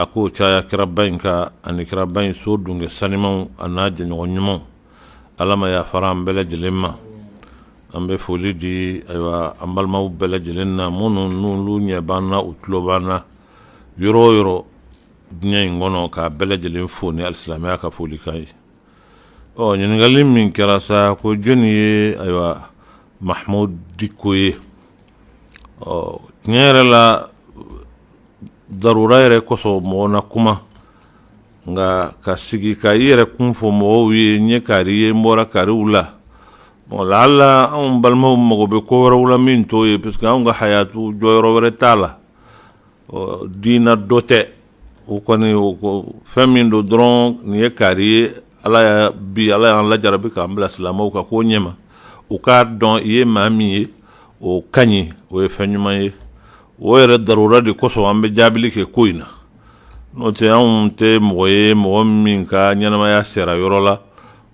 a k'o caya kiraba in kan ani kiraba in so dunge sanimaw an'a jɛɲɔgɔn ɲumanw ala ma yafara an bɛɛ lajɛlen ma an bɛ foli di ayiwa an balimaw bɛɛ lajɛlen na minnu n'olu ɲɛ b'an na u tulo b'an na yɔrɔ o yɔrɔ diɲɛ in kɔnɔ k'a bɛɛ lajɛlen fo ni alisilamɛya ka folikan ye ɔ ɲininkali min kɛra sa ko jɔni ye ayiwa mahamud diko ye ɔ tiɲɛ yɛrɛ la darura yɛrɛ kosɔn mɔgɔ na kuma nka ka sigi ka i yɛrɛ kun fɔ mɔgɔw ye n ye kari ye n bɔra kariw la wala ala anw balimaw mago bɛ ko wɛrɛw la min t'o ye parce que anw ka hayatu jɔyɔrɔ wɛrɛ t'a la diina dɔ tɛ o kɔni fɛn min don dɔrɔn nin ye kari ye ala bi ala y'an lajarabi k'an bila silamɛw ka ko ɲɛma u k'a dɔn i ye maa min ye o ka ɲi o ye fɛn ɲuman ye o yɛrɛ darura de kosɔn an bɛ jaabili kɛ ko in na n'o tɛ anw tɛ mɔgɔ ye mɔgɔ min ka ɲɛnamaya sera yɔrɔ la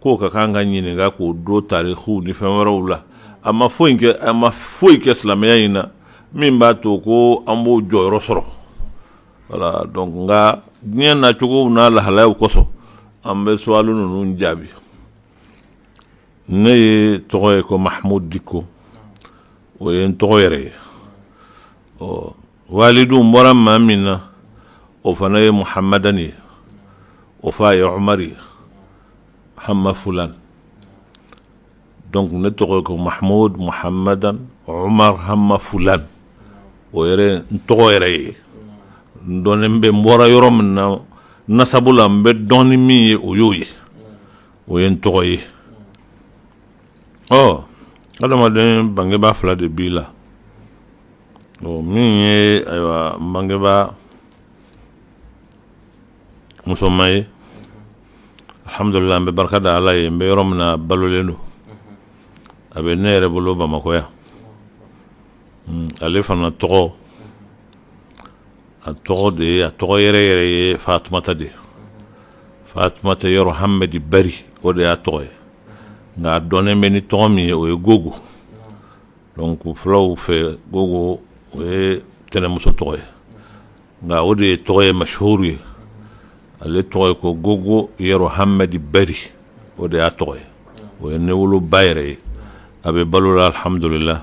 k'o ka kan ka ɲininka k'o dɔn tariki ni fɛn wɛrɛw la a ma foyi a ma foyi kɛ silamɛya in na min b'a to ko an b'o jɔyɔrɔ sɔrɔ wala dɔn nka diɲɛ nacogo n'a lahalayaw kosɔn an bɛ suwali ninnu jaabi ne yɛrɛ tɔgɔ ye ko mahamud diko o ye n tɔgɔ yɛrɛ ye ɔ walidu n bɔra maa min na o fana ye muhamadani ye o fa ye ɔmari ye hama fulan donc ne tɔgɔ ko mahamud muhamadan ɔmar hama fulan o yɛrɛ n tɔgɔ yɛrɛ ye n dɔnnen bɛ n bɔra yɔrɔ min na nasabu la n bɛ dɔn ni min ye o y'o ye o ye n tɔgɔ ye ɔ nka adamaden bangebaa fila de b'i la ɔ min ye ayiwa n bangebaa musoma ye alhamdulila an bɛ barika da ala ye n bɛ yɔrɔ min na a balolen don a bɛ ne yɛrɛ bolo bamakɔ yan hmm, ale fana tɔgɔ a tɔgɔ de ye a tɔgɔ yɛrɛ yɛrɛ ye fatumata de fatumata yero hamadi bari o de y'a tɔgɔ ye nka a dɔnnen bɛ ni tɔgɔ min ye o ye gogo donc fulaw fɛ gogo o ye tɛnɛmuso tɔgɔ ye nka o de ye tɔgɔ ye mashuru ye ale tɔgɔ ye ko gogo yero hamadi bari o de y'a tɔgɔ ye o ye ne woloba yɛrɛ ye a bɛ balo la alihamdulila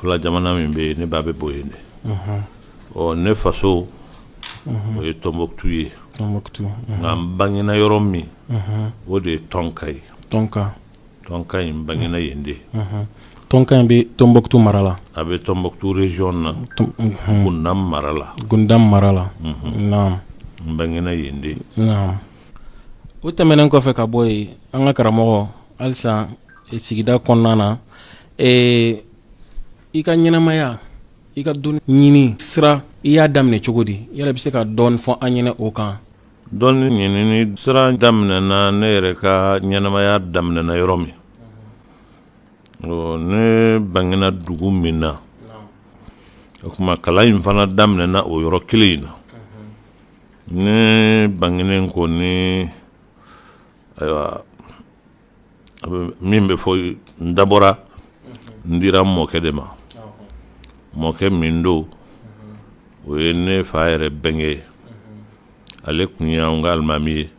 fila jamana min bɛ yen ne ba bɛ bɔ yen de ɔ ne faso o ye tɔnbuktu ye nka n bangena yɔrɔ min o de ye tɔnka ye tɔnka tɔnka n bangena yen de tɔnka in bɛ tɔnbuktu mara la a bɛ tɔnbuktu région na gundam mara la gundam mara la n bangena yen de o tɛmɛnen kɔfɛ ka bɔ yen an ka karamɔgɔ halisa sigida kɔnɔna na Ee i ka ɲɛnɛmaya i ka dɔnni ɲinin sira i y'a daminɛ cogo di yala i bɛ se ka dɔɔnin fɔ an ɲɛna o kan dɔnni ɲinin sira daminɛna ne yɛrɛ ka ɲɛnɛmaya daminɛna yɔrɔ min ne bangena dugu min na o tuma kalan in fana daminɛna o yɔrɔ kelen in na ne bangenen kɔni ayiwa min bɛ fɔ n dabɔra n dira n mɔkɛ de ma mɔkɛ min don o ye ne fa yɛrɛ bɛnkɛ ye ale tun ye an ka alimami ye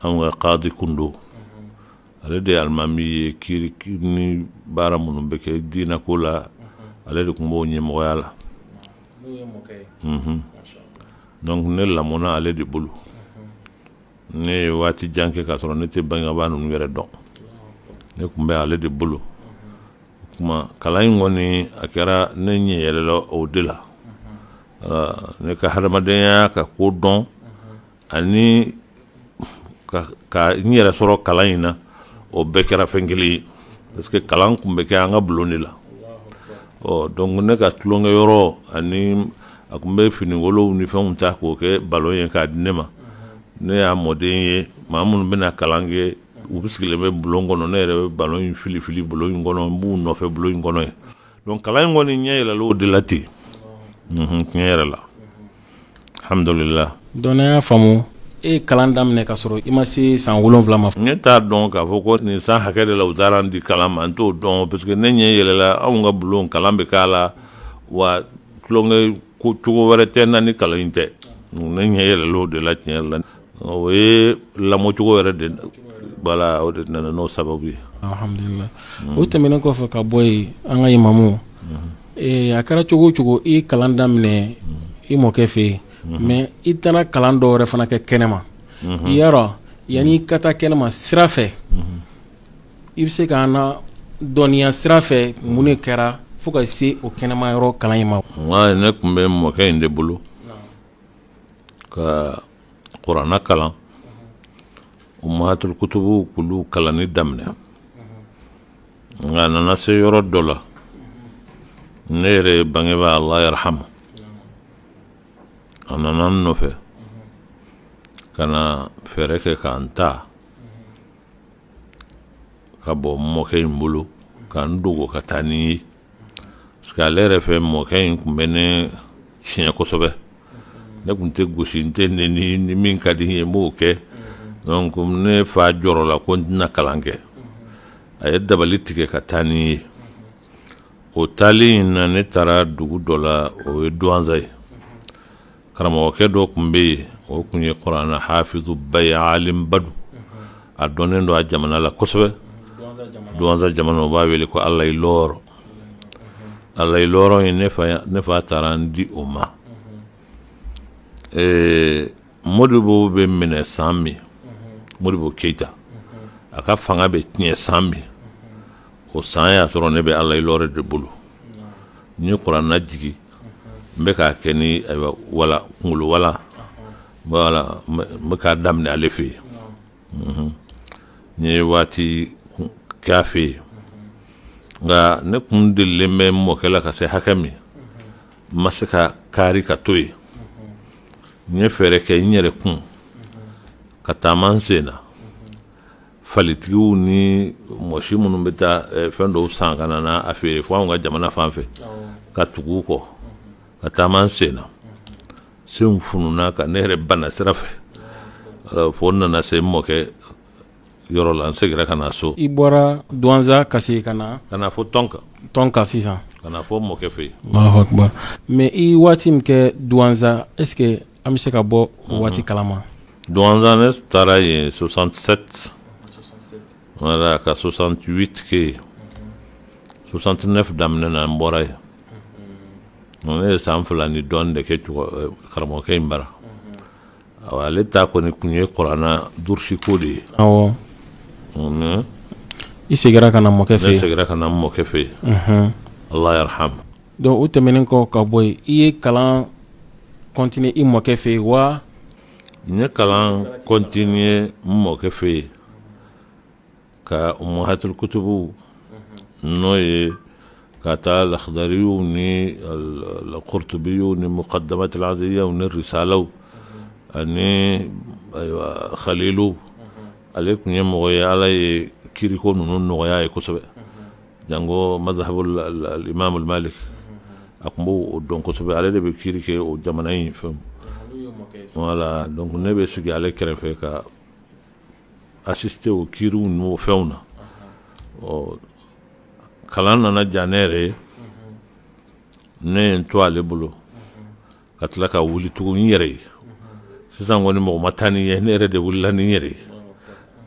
an ka kadi tun don ale de ye alimami ye kiiri baara minnu bɛ kɛ diinɛ ko la ale de tun b'o ɲɛmɔgɔya la donc ne lamɔna ale de bolo ne ye waati jan kɛ ka sɔrɔ ne tɛ bangebaga ninnu yɛrɛ dɔn ne tun bɛ ale de bolo o tuma kalan in kɔni a kɛra ne ɲɛ yɛlɛla o de la ne ka hadamadenya ka ko dɔn ani ka n yɛrɛ sɔrɔ kalan in na o bɛɛ kɛra fɛn kelen ye parce que kalan tun bɛ kɛ an ka bulon de la ɔ donc ne ka tulonkɛ yɔrɔ ani a tun bɛ finikolonw ni fɛnw ta k'o kɛ balɔn ye k'a di ne ma ne y'a mɔden ye maa minnu bɛ na kalan kɛ u bɛɛ sigilen bɛ bulon kɔnɔ ne yɛrɛ bɛ balɔn in fili fili bulon in kɔnɔ n b'u nɔfɛ bulon in kɔnɔ yen donc kalan in kɔni n ɲɛ yɛlɛla o de la ten tiɲɛ yɛrɛ la hamidulila donc n y'a faamu e ye kalan daminɛ ka sɔrɔ i ma se san wolonwula ma ne t'a dɔn k'a fɔ ko nin san hakɛ de la u taara n di kalan ma n t'o dɔn parce que ne ɲɛ yɛlɛla anw ka bulon kalan bɛ k'a la wa tulonkɛ ko cogo wɛrɛ tɛ n na ni kalan in tɛ ne ɲɛ yɛlɛlen o de la tiɲɛ yɛrɛ la o ye n lamɔcogo yɛrɛ de voilà o de nana n'o sababu ye alhamdulilahi o tɛmɛnen kɔfɛ ka bɔ yen an ka imamu ee a kɛra cogo o cogo i ye kalan daminɛ i mɔkɛ fɛ yen mais i taara kalan dɔ wɛrɛ fana kɛ kɛnɛma i y'a dɔn yanni i ka taa kɛnɛma sira fɛ i bɛ se ka na dɔnniya sira fɛ mun de kɛra fo ka se o kɛnɛma yɔrɔ kalan in ma nka ne tun bɛ mɔkɛ in de bolo ka kurana kalan umahatul kutubu kulu kalanni daminɛ nka a nana se yɔrɔ dɔ la ne yɛrɛ bangebaa ala yarhamu a nana n nɔfɛ ka na fɛɛrɛ kɛ ka n ta ka bɔ n mɔkɛ in bolo ka n dogo ka taa ni n ye parce que ale yɛrɛ fɛ mɔkɛ in tun bɛ ne tiɲɛ kosɛbɛ ne tun tɛ gosi n tɛ neni ni min ka di n ye n b'o kɛ donc ne fa jɔrɔla ko n tɛna kalan kɛ a ye dabali tigɛ ka taa ni n ye o taali in na ne taara dugu dɔ la o ye duwanza ye karamɔgɔkɛ dɔ tun bɛ yen o tun ye kurana hafizuba ye alimuba don a dɔnnen don a jamana la kosɛbɛ duwanza jamana u b'a wele ko alayi lɔɔrɔ alayi lɔɔrɔ ye ne fa taara n di o ma ee mɔdibo bɛ minɛ san min mɔdibo keyita a ka fanga bɛ tiɲɛ san min o san y'a sɔrɔ ne bɛ alayi lɔɔrɔ de bolo n ye kurana jigin n bɛ k'a kɛ ni kunkolo walan n bɛ k'a daminɛ ale fɛ yen n ye waati kɛ a fɛ yen nka ne kun delen bɛ mɔkɛ la ka se hakɛ min n ma se ka kari ka to yen n ye fɛɛrɛ kɛ n yɛrɛ kun ka taama n sen na falitigiw ni mɔsi minnu bɛ taa eh, fɛn dɔw san ka na a feere fo anw ka jamana fan fɛ ka tugu u kɔ ka taama n sen na senw fununa ka ne yɛrɛ bana sira fɛ fo n nana se n mɔkɛ yɔrɔ la n segira ka na so i bɔra duwanza ka se ka na ka na fo tɔnka tɔnka sisan ka na fo mɔkɛ fɛ yen mais i waati min kɛ duwanza est ce que An bɛ se ka bɔ o waati kalama duwanza ne taara yen soixante-sept wala ka soixante-huit kɛ soixante-neuf daminɛ na n bɔra yen ne ye san fila ni dɔ de kɛ karamɔgɔkɛ in bara ale ta kɔni tun ye kurana dursiko de ye i seginna ka na mɔkɛ fɛ i seginna ka na mɔkɛ fɛ yen ala yarham Donc o tɛmɛnen kɔ ka bɔ yen i ye kalan continuer i mɔkɛ fɛ yen wa n ye kalan continuer n mɔkɛ fɛ yen ka umahatul kutubu n'o ye ka ta lahadariw ni alkurutubi ni mukadamatul iziya ni risaalaw ani xalil ale tun ye mɔgɔ ye ala ye kiiriko ninnu nɔgɔya ye kosɛbɛ Janko mazhabul imamu malik a tun b'o o dɔn kosɛbɛ ale de bɛ kiiri kɛ o jamana in fɛ wala donc ne bɛ sigi ale kɛrɛfɛ ka assister o kiiriw n'o fɛnw na ɔ kalan nana jan ne yɛrɛ ye ne ye n to ale bolo ka tila ka wuli tugun n yɛrɛ ye sisan kɔni mɔgɔ ma taa ni n ye ne yɛrɛ de wulila n yɛrɛ ye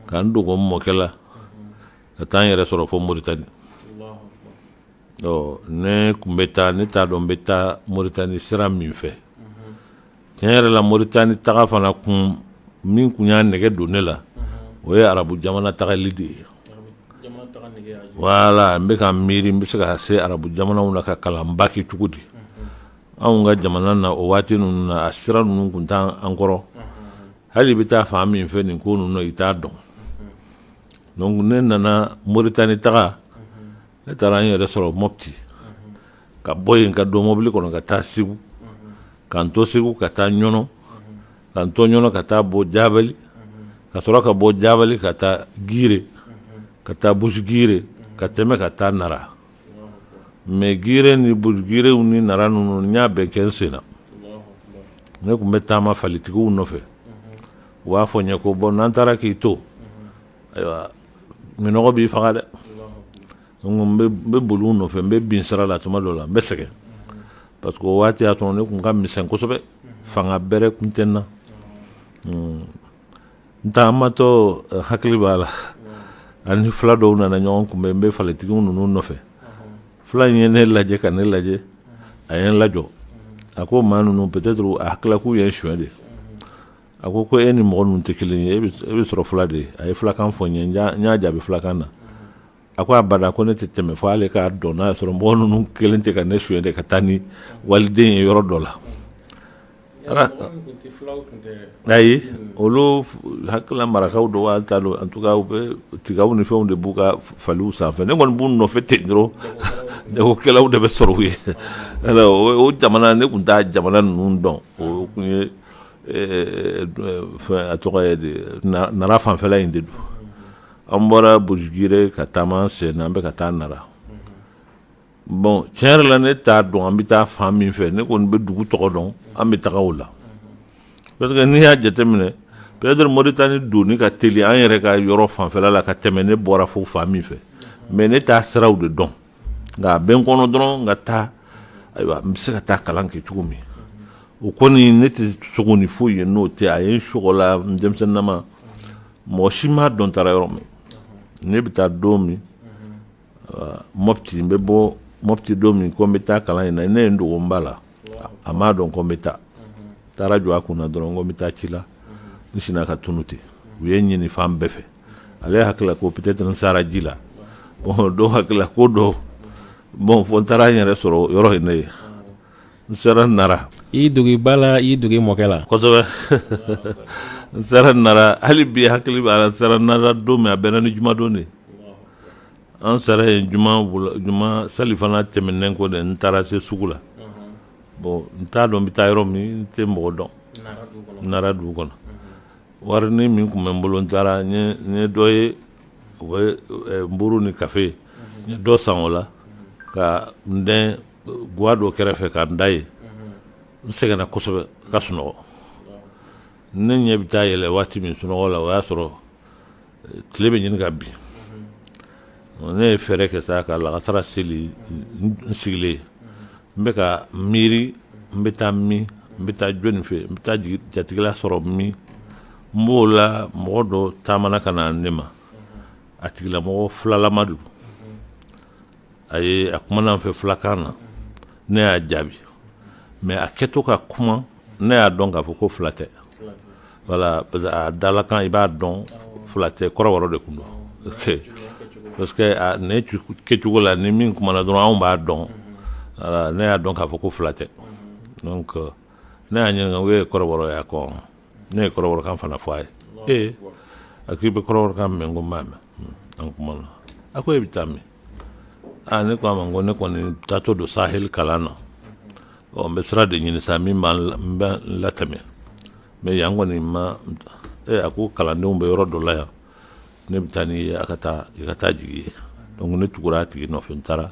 ka n dogo n mɔkɛ la ka taa n yɛrɛ sɔrɔ fo moritani ɔ ne tun bɛ taa ne t'a dɔn n bɛ taa moritani sira min fɛ tiɲɛ yɛrɛ la moritani taga fana kun min tun y'a nɛgɛ don ne la o ye arabu jamana tagali de ye wala n bɛ ka miiri n bɛ se ka se arabu jamanaw na ka kalan baki cogo di anw ka jamana na o waati ninnu na a sira ninnu tun t'an kɔrɔ hali i bɛ taa fan min fɛ nin ko ninnu i t'a dɔn donc ne nana Mauritanie taga ne taara n yɛrɛ sɔrɔ Mopti ka bɔ yen ka don mobili kɔnɔ ka taa Segu ka n to Segu ka taa Ɲɔnɔ ka n to Ɲɔnɔ ka taa bɔ Jabali ka sɔrɔ ka bɔ Jabali ka taa Gire ka taa Busugire ka tɛmɛ ka taa Nara mais Gire ni Busugire ni Nara ninnu n y'a bɛɛ kɛ n sen na ne tun bɛ taama falitigiw nɔfɛ. u b'a fɔ n ye ko bon n'an taara k'i to ayiwa minnɔgɔ b'i faga dɛ n bɛ boli nɔfɛ n bɛ bin sira la tuma dɔ la n bɛ sɛgɛn parce que o waati y'a sɔrɔ ne tun ka misɛn kosɛbɛ fanga bɛrɛ tun tɛ n na hmm. n taamatɔ eh, hakili b'a la an ni fila dɔw nana ɲɔgɔn kunbɛn n bɛ falitigiw ninnu nɔfɛ fila in ye ne lajɛ ka ne lajɛ a ye n lajɔ a ko maa ninnu peut-être a hakilila k'u ye n suɲɛ de a ko ko e ni mɔgɔ ninnu tɛ kelen ye e bɛ sɔrɔ fila de ye a ye fulakan fɔ n ye n y'a jaabi fulakan na a ko abada ko ne tɛ tɛmɛ fo ale k'a dɔn n'a sɔrɔ mɔgɔ ninnu kɛlen tɛ ka ne suɲɛ de ka taa ni waliden ye yɔrɔ dɔ la ayi olu hakilila marakaw don wa n t'a dɔn an tun u bɛ tigaw ni fɛnw de b'u ka faliw sanfɛ ne kɔni b'u nɔfɛ ten dɔrɔn sɛnɛkɛlaw de bɛ sɔrɔ u ye o jamana ne tun tɛ jamana ninnu dɔn o tun ye A tɔgɔ nana fanfɛla in de don an bɔra bo ka taama sen an bɛka ka taa na bon tiɲɛ yɛrɛ la ne t'a dɔn an bɛ taa fan min fɛ ne kɔni bɛ dugu tɔgɔ dɔn an bɛ taga o la n'i y'a jateminɛ peut-être mori tan ni don ka teli an yɛrɛ ka yɔrɔ fanfɛla la ka tɛmɛ ne bɔra fo fan min fɛ mɛ ne t'a siraw de dɔn nka a bɛ n kɔnɔ dɔrɔn n ka taa ayiwa n bɛ se ka taa kalan kɛ cogo min o kɔni ne tɛ sogo ni foyi ye n'o tɛ a ye sabula denmisɛnnin nama mɔgɔ si m'a dɔn n taara yɔrɔ min ne bɛ taa don min mɔti n bɛ bɔ mɔti don min ko n bɛ taa kalan in na ne ye n dogo n ba la a m'a dɔn ko n bɛ taa n taara jɔ a kun na dɔrɔn ko n bɛ taa ci la n sinna ka tunun ten u ye n ɲini fan bɛɛ fɛ ale hakilila ko peut-être n sara ji la dɔw hakilila ko dɔ bon fo n taara n yɛrɛ sɔrɔ yɔrɔ in na yen n sera nara i dogo i ba la i dogo i mɔkɛ la kosɛbɛ n sera nara hali bi n hakili b'a la n sera nara don min a bɛnna ni jumadon de ye an sera yen juma juma salifana tɛmɛnen kɔ dɛ n taara se sugu la bon n t'a dɔn n bɛ taa yɔrɔ min n tɛ mɔgɔ dɔn n nara dugu kɔnɔ warinin min tun bɛ n bolo n taara n ye dɔ ye u bɛ nburu ni kafe n ye dɔ san o la ka n dɛn ga dɔ kɛrɛfɛ ka n da yen n sɛgɛnna kosɛbɛ ka sunɔgɔ ne ɲɛ bɛ taa yɛlɛ waati min sunɔgɔ la o y'a sɔrɔ tile bɛ ɲini ka bin ne ye fɛɛrɛ kɛ sa ka lagansara seli n sigilen n bɛ ka miiri n bɛ taa min n bɛ taa jɔni fɛ n bɛ taa jatigila sɔrɔ min n b'o la mɔgɔ dɔ taamana ka na ne ma a tigilamɔgɔ filalama don a ye a kumana n fɛ fulakan na ne y'a jaabi mɛ a kɛtɔ ka kuma ne y'a dɔn k'a fɔ ko fila tɛ wala parce a dalakan i b'a dɔn fila tɛ kɔrɔbɔrɔ de tun don parce que ne kɛcogo la ni min kumana dɔrɔn anw b'a dɔn ne y'a dɔn k'a fɔ ko fila tɛ ne y'a ɲininka i ye kɔrɔbɔrɔ ye ko ne ye kɔrɔbɔrɔkan fana fɔ a ye ee a k'i bɛ kɔrɔbɔrɔkan mɛn ko n b'a mɛn hmm, an kumana a ko e bɛ taa min aa ne ko a ma ko ne kɔni taatɔ don saheli kalan na ɔ n bɛ sira de ɲini sa min b'an n bɛ n latɛmɛ mɛ yan kɔni ma e a ko kalandenw bɛ yɔrɔ dɔ la yan ne bɛ taa n'i ye a ka taa i ka taa jigin yen donc ne tugura a tigi nɔfɛ n taara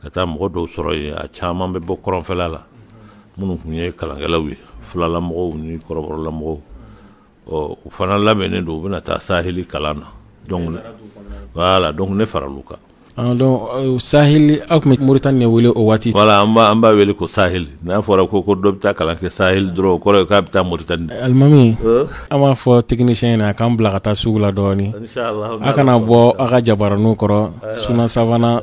ka taa mɔgɔ dɔw sɔrɔ yen a caman bɛ bɔ kɔrɔnfɛla la minnu tun ye kalankɛlaw ye filalamɔgɔw ni kɔrɔbɔrɔlamɔgɔw ɔ u fana labɛnnen don u bɛna taa saheli kalan na donc voilà donc ne faral'u kan Ah, donc euh, saheli an tun bɛ moritani de wele o waati voilà an b'a an b'a wele ko saheli n'a fɔra ko ko dɔ bɛ taa kalan kɛ saheli dɔrɔn o kɔrɔ ye k'a bɛ taa moritani de alimami Euh, an b'a fɔ technicien ye a k'an bila ka taa sugu la dɔɔni inchallah a kana bɔ a ka jabaraninw kɔrɔ Sunna Savana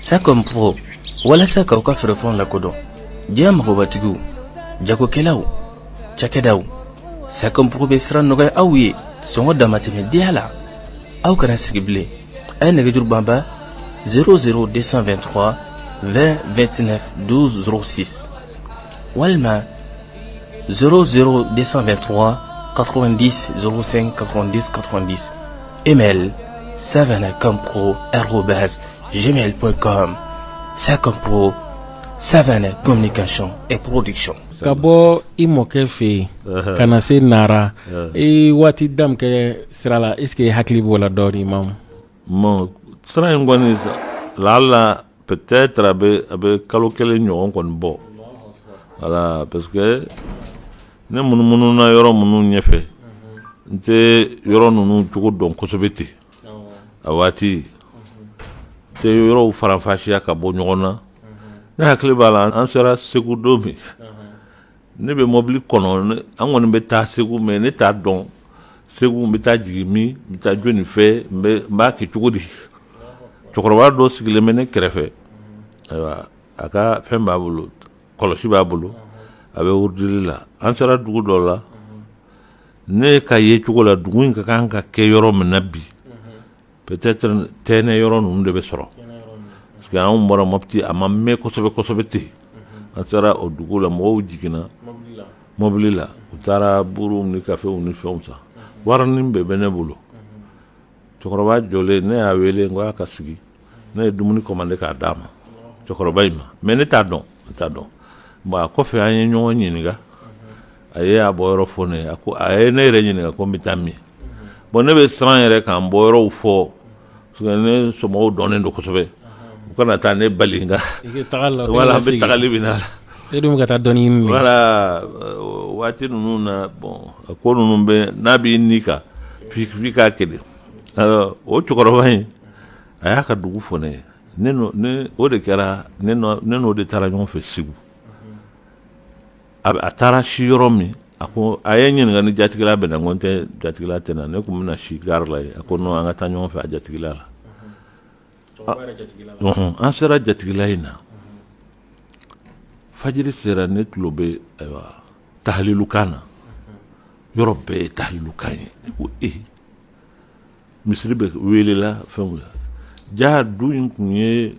Sakɔɔgɔ walasa k'aw ka fɛɛrɛfɛnw la kodɔn diɲɛ mɔgɔbatigiw jagokɛlaw cɛkɛdaw sakɔɔgɔ bɛ siran nɔgɔya aw ye sɔngɔ damatɛmɛ deya la aw kana sigi bilen a ye nɛgɛjuru banba s de sanfɛ2 tɔgɔ 2 2tinɛsi walima s de sanfɛ2 tɔgɔ katkɔrɔndi sen katkɔrɔndi katdi email savanacompro@gmail.com Sacompro Savana communication et production ka bɔ i mɔkɛ fɛ yen ka na se nara i waati da min kɛ sira la est-ce que i hakili b'o la dɔɔnin ma ma sira in kɔni lala Peut-être a bɛ a bɛ kalo kelen ɲɔgɔn kɔni bɔ voilà parce que ne munumununa yɔrɔ minnu ɲɛfɛ n tɛ yɔrɔ ninnu cogo dɔn kosɛbɛ ten a waati n tɛ yɔrɔw faranfasiya ka bɔ ɲɔgɔn na ne hakili b'a la an sera segu don min ne bɛ mɔbili kɔnɔ an kɔni bɛ taa segu mais ne t'a dɔn segu n bɛ taa jigin min n bɛ taa jɔni fɛ n b'a kɛ cogo di cɛkɔrɔba dɔ sigilen bɛ ne kɛrɛfɛ ayiwa a ka fɛn b'a bolo kɔlɔsi b'a bolo a bɛ wurudili la an sera dugu dɔ la ne ka yecogo la dugu in ka kan ka kɛ yɔrɔ min na bi Peut-être tɛnɛ yɔrɔ ninnu de bɛ sɔrɔ parce que anw bɔra Mopti a ma mɛn kosɛbɛ kosɛbɛ ten, an sera o dugu la mɔgɔw jiginna mɔbili la u taara buuruw ni kafew ni fɛnw san warinin de bɛ ne bolo cɛkɔrɔba jɔlen ne y'a wele n ko a ka sigi ne ye dumuni commandé k'a d'a ma cɛkɔrɔba in ma mais ne t'a dɔn ne t'a dɔn bon a kɔfɛ an ye ɲɔgɔn ɲininka a ye a bɔyɔrɔ fɔ ne ye a ko a ye ne yɛrɛ ɲininka ko n bɛ taa min bon ne bɛ siran yɛrɛ ka n bɔyɔrɔw fɔ ne somɔgɔw dɔnnen don kosɛbɛ u kana taa ne bali voilà an bɛ tagali bɛ na e dun ka taa dɔn voilà waati ninnu na bon a ko ninnu bɛ n'a b'i ni kan fifin k'a kelen o cɛkɔrɔba in a y'a ka dugu fɔ ne ye o de kɛra ne n'o de taara ɲɔgɔn fɛ segu a taara si yɔrɔ min a ko a ye n ɲininka ni jatigila bɛ n na n ko jatigila tɛ n na ne tun bɛna na si gari la a ko an ka taa ɲɔgɔn fɛ a jatigila la an sera jatigila in na fajiri sera ne tulo bɛ ayiwa talilukan na yɔrɔ bɛɛ ye talilukan ye ko e misiri bɛ welela fɛn ja du in tun ye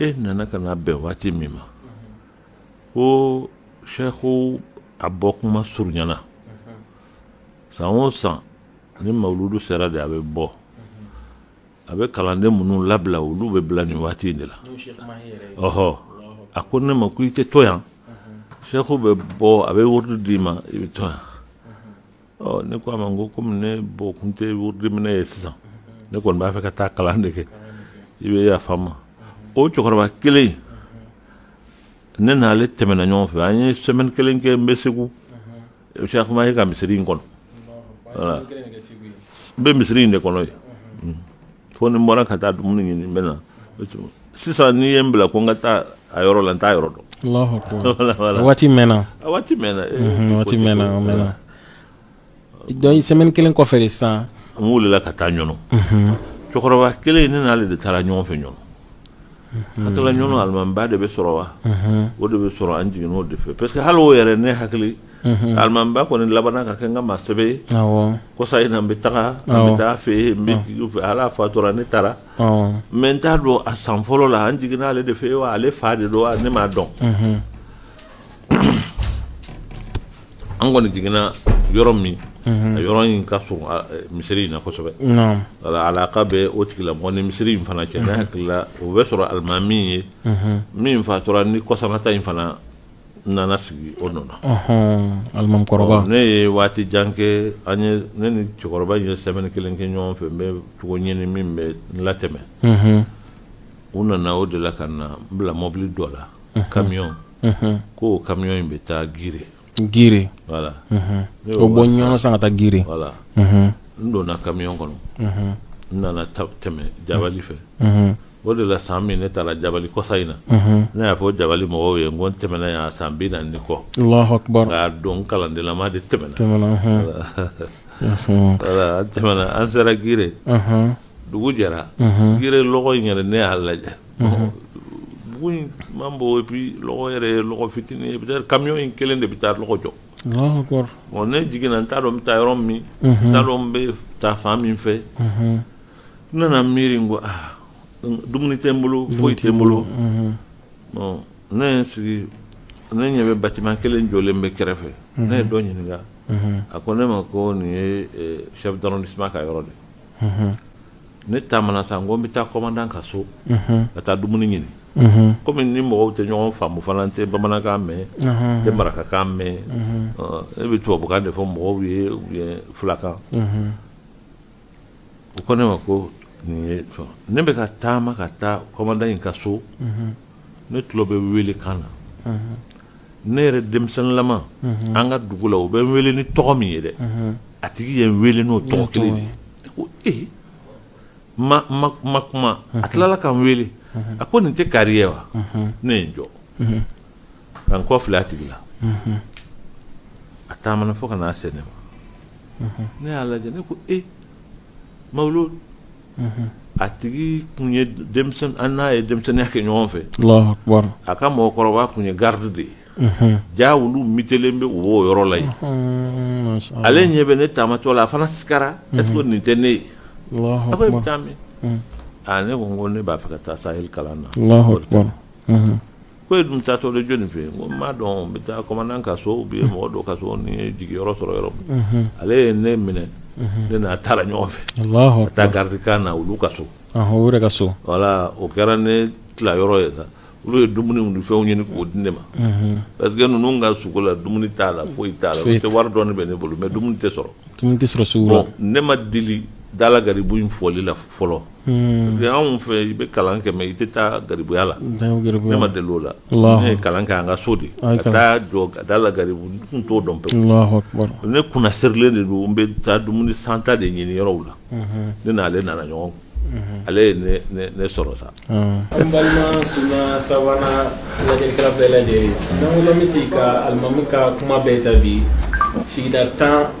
e nana ka na bɛn waati min ma ko seku a bɔ kuma surunyana san o san ni mawuludu sera de a bɛ bɔ a bɛ kalanden minnu labila olu bɛ bila nin waati in de la ɔhɔ a ko ne ma ko i tɛ to yan seku bɛ bɔ a bɛ wurudi d'i ma i bɛ to yan ɔ ne ko a ma n ko komi ne bɔ kun tɛ wurudimina ye sisan ne kɔni b'a fɛ ka taa kalan de kɛ i bɛ yafa n ma o cɛkɔrɔba kelen ne n'ale tɛmɛna ɲɔgɔn fɛ an ye sɛmɛni kelen kɛ n bɛ segu seku maye ka misiri in kɔnɔ n bɛ misiri in de kɔnɔ yen fo ni n bɔra ka taa dumuni ɲini n bɛ na sisan n'i ye n bila ko n ka taa a yɔrɔ la n t'a yɔrɔ dɔn waati mɛnna waati mɛnna waati mɛnna mɛnna dɔɔni sɛmɛni kelen kɔfɛ de sisan n wulila ka taa ɲɔnɔ cɛkɔrɔba kelen ne n'ale de taara ɲɔgɔn fɛ ɲɔnɔ a taara ɲɔnɔ alimamiba de bɛ sɔrɔ wa o de bɛ sɔrɔ an jiginn'o de fɛ parce que hali o yɛrɛ ne hakili alimamiba kɔni laban ka kɛ n ka maa sɛbɛ ye kɔsa in n bɛ taga n bɛ taa a fɛ yen fo ale fatura ne taara mɛ n t'a dɔn a san fɔlɔ la an jiginn'ale de fɛ yen wa ale fa de don ne m'a dɔn an kɔni jiginna yɔrɔ min a yɔrɔ in ka surun misiri in na kosɛbɛ ala ka bɛ o tigila bɔ ni misiri in fana cɛ ne hakilila o bɛ sɔrɔ alimami ye min fatura nin kɔsata in fana n nana sigi o nɔ na, ɔnhɔn, alimamikɔrɔba, ne ye waati jan kɛ, an ye ne ni cɛkɔrɔba in ye semaine kelen kɛ ɲɔgɔn fɛ, n bɛ cogo ɲini min bɛ n latɛmɛ, unhun, u nana o de la ka na n bila mɔbili dɔ la, unhun, camion, unhun, k'o camion in bɛ taa Gire, Gire, voilà, unhun, ne y'o bɔ Ɲɔnɔn sisan ka taa Gire, voilà, unhun, n donna camion kɔnɔ, unhun, n nana tɛmɛ Jabali fɛ, unhun. O de la san min ne taara jabali kɔsa in na ne y'a fɔ jabali mɔgɔw ye n ko n tɛmɛna yan san bi naani ni kɔ nka a don kalandenlama de tɛmɛna an tɛmɛna an sera gire dugu jɛra gire lɔgɔ in yɛrɛ ne y'a lajɛ dugu man bon et puis lɔgɔ yɛrɛ lɔgɔ fitinin peut-être kamiyɔn in kelen de bɛ taa lɔgɔ jɔ ne jiginna n t'a dɔn n bɛ taa yɔrɔ min n t'a dɔn n bɛ taa fan min fɛ n nana miiri ko aa dumuni tɛ n bolo foyi tɛ n bolo ne ye n sigi ne ɲɛ bɛ batiman kelen jɔlen bɛ kɛrɛfɛ ne ye dɔ ɲininka a ko ne ma ko nin ye chef d'arrondissement ka yɔrɔ de ne taamana sa n ko n bɛ taa kɔmandan ka so ka taa dumuni ɲini kɔmi n ni mɔgɔw tɛ ɲɔgɔn faamu fana tɛ bamanankan mɛn tɛ marakakan mɛn ne bɛ tubabukan de fɔ mɔgɔw ye filakan u ko ne ma ko nin ne bɛ ka taama ka taa kɔmandan in ka so ne tulo bɛ wele kan na ne yɛrɛ denmisɛnninlama an ka dugu la u bɛ n wele ni tɔgɔ min ye dɛ a tigi ye n wele n'o tɔgɔ kelen de ne ma kuma a tilala ka n wele a ko nin tɛ kari ye wa ne ye n jɔ ka n kɔ filɛ a tigi la a taamana fo ka na se ne ma ne y'a lajɛ ne ko e ma a tigi tun ye an n'a ye denmisɛnninya kɛ ɲɔgɔn fɛ a ka mɔgɔkɔrɔba tun ye garidi de ye jaa olu mutelen bɛ o yɔrɔ la ale ɲɛ bɛ ne taamatɔ la a fana sigira e nin tɛ ne ye a bɛ taa min ne ko ko ne b'a fɛ ka taa sa kalan na ko e dun taatɔ de jɔnni fɛ yen ko n m'a dɔn n bɛ taa kɔmandan ka so ou bien mɔgɔ dɔ ka so ni n ye jigiyɔrɔ sɔrɔ yɔrɔ min ale ye ne minɛ ne n'a taara ɲɔgɔn fɛ ka taa garidikan na olu ka so voilà o kɛra ne tila yɔrɔ ye sa olu ye dumuni ni fɛnw ɲini k'o di ne ma parce que ninnu ka sugu la dumuni t'a la foyi t'a la tɛ wari dɔɔni bɛ ne bolo mɛ dumuni tɛ sɔrɔ ne ma deli da la garibu in fɔli la fɔlɔ Hmm. Anw fɛ i bɛ kalan kɛ mɛ i tɛ taa garibuya la ne ma deli o la ne ye kalan kɛ an ka so de ka taa jɔ ka da la garibu tun t'o dɔn pe ne kunnasirilen de don n bɛ taa dumuni santa de ɲinin yɔrɔw la hmm. ne n'ale nana ɲɔgɔn hmm. ale ye ne sɔrɔ sa an ah. balima suna sabanan lajɛlikɛla bɛɛ lajɛlen n'an bɛ se ka alimami ka kuma bɛɛ ta bi sigida tan